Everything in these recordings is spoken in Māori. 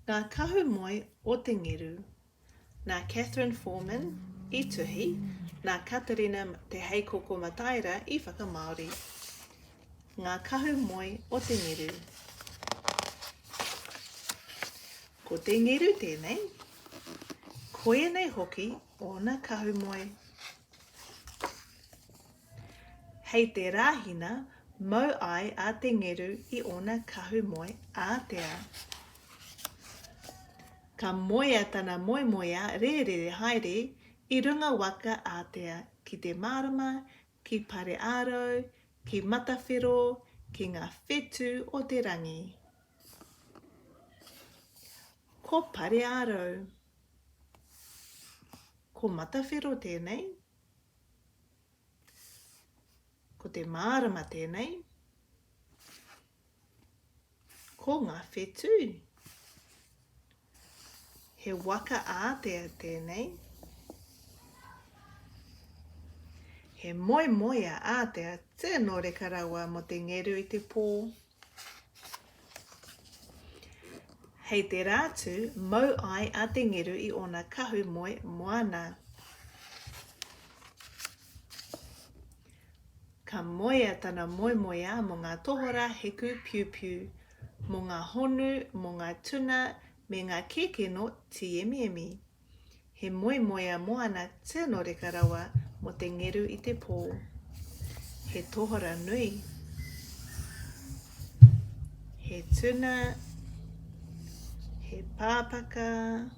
Ngā Kahu Moe o Te Ngeru Nā Catherine Foreman i tuhi, nā Katerina Te Heikoko Mataira i whakamāori Ngā Kahu Moe o Te Ngeru Ko Te Ngeru tēnei, koia nei hoki ōna kahu moe. Hei te Rāhina mau ai a Te Ngeru i ōna kahu moe ātea. Ka moea tana moemoeā rērere haere i runga waka ātea ki te mārama, ki Pareārau, ki Matawhero, ki ngā whetū o te rangi. Ko Pareārau. Ko Matawhero tēnei. Ko te mārama tēnei. Ko ngā whetū. He waka ātea tēnei. He moemoea ātea tino reka rawa mō te ngeru i te pō Hei te rā tū, mau ai a Te Ngeru i ōna kahu moe moana. Ka moea tana moemoeā mō ngā tohorā heku piupiu, mō ngā honu, mō ngā tuna me ngā kēkeno tīemiemi. He moemoea moana tino reka rawa mo te ngeru i te po. He tohora nui. He tuna, he pāpaka,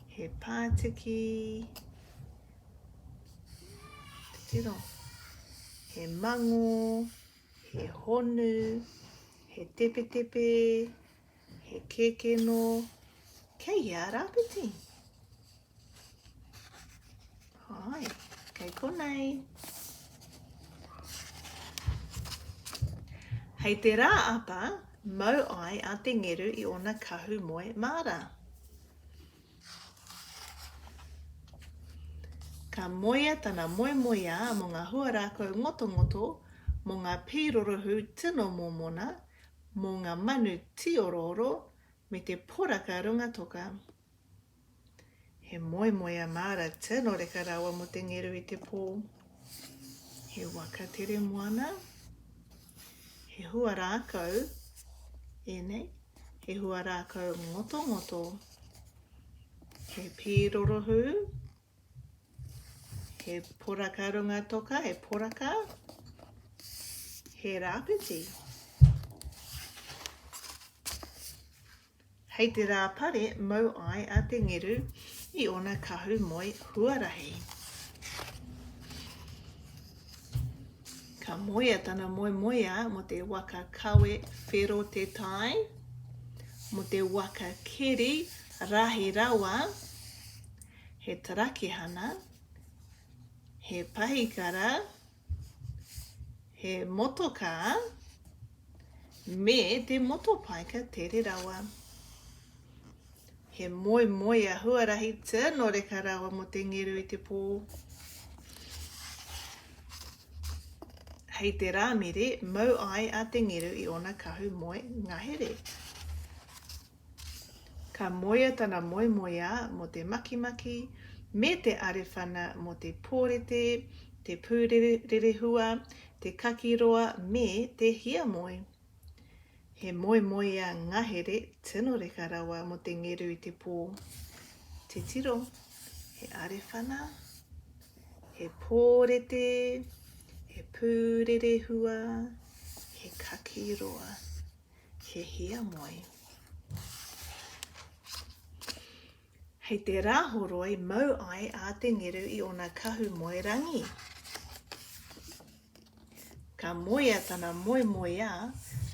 he pātiki, tino, he mango, he honu, he tepetepe, He kēkē nō kei hea a Rāpiti? Hai, kei konei. Hei te rā apa, mau ai a Te Ngeru i ōna kahu moe māra. Ka moea tana moemoeā mō ngā huarākau ngotongoto, mō ngā pī rorohū tino mōmona, mō ngā manu tīorooro me te poraka runga toka. He moemoea māra tino reka rawa mō te ngeru i te pō. He waka tere moana, he hua rākau, ēnei, he hua rākau ngotongoto, he pīrorohū, He poraka runga toka, he poraka, he rāpiti. Hei te rā pare mau ai a te ngeru i ona kahu moe huarahi. Ka moea tana moe moea mo te waka kawe whero te tai, mo te waka keri rahi rawa, he tarakihana, he pahikara, he motokā, me te motopaika tere rawa. He moemoea huarahi tino reka rawa mo te ngeru i te pō. Hei te rāmere mau ai a te ngeru i ona kahu moe ngahere. Ka moea tana moemoeā mō te makimaki me te arewhana mō te pōrete, te pūrerehua, te kakiroa me te hiamoe. He moemoeā ngahere tino reka rawa mō te ngeru i te pō. Titiro, he arewhana, he pōrete, he pūrerehua, he kakiroa. He hiamoe. Hei te rāhoroi mau ai a te ngeru i ona kahu moe rangi. Ka moea tana moe moeā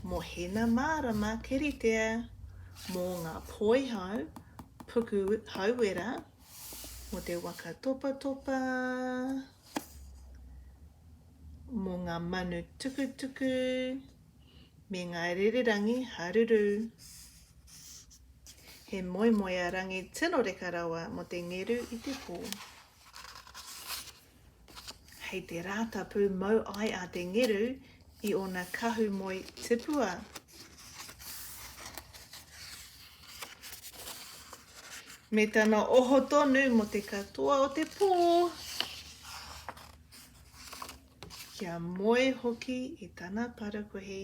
mo hena mārama keritea, mo ngā poihau, puku hauera, mo te waka topatopa, mo ngā manu tukutuku, me ngā rererangi haruru. He moemoea rangi tino reka rawa mo te ngeru i te pō. Hei te rātapu mau ai a te ngeru i ōna kahu moe tipua. Me tana oho tonu mo te katoa o te pō. Kia moe hoki i tana parakuihi.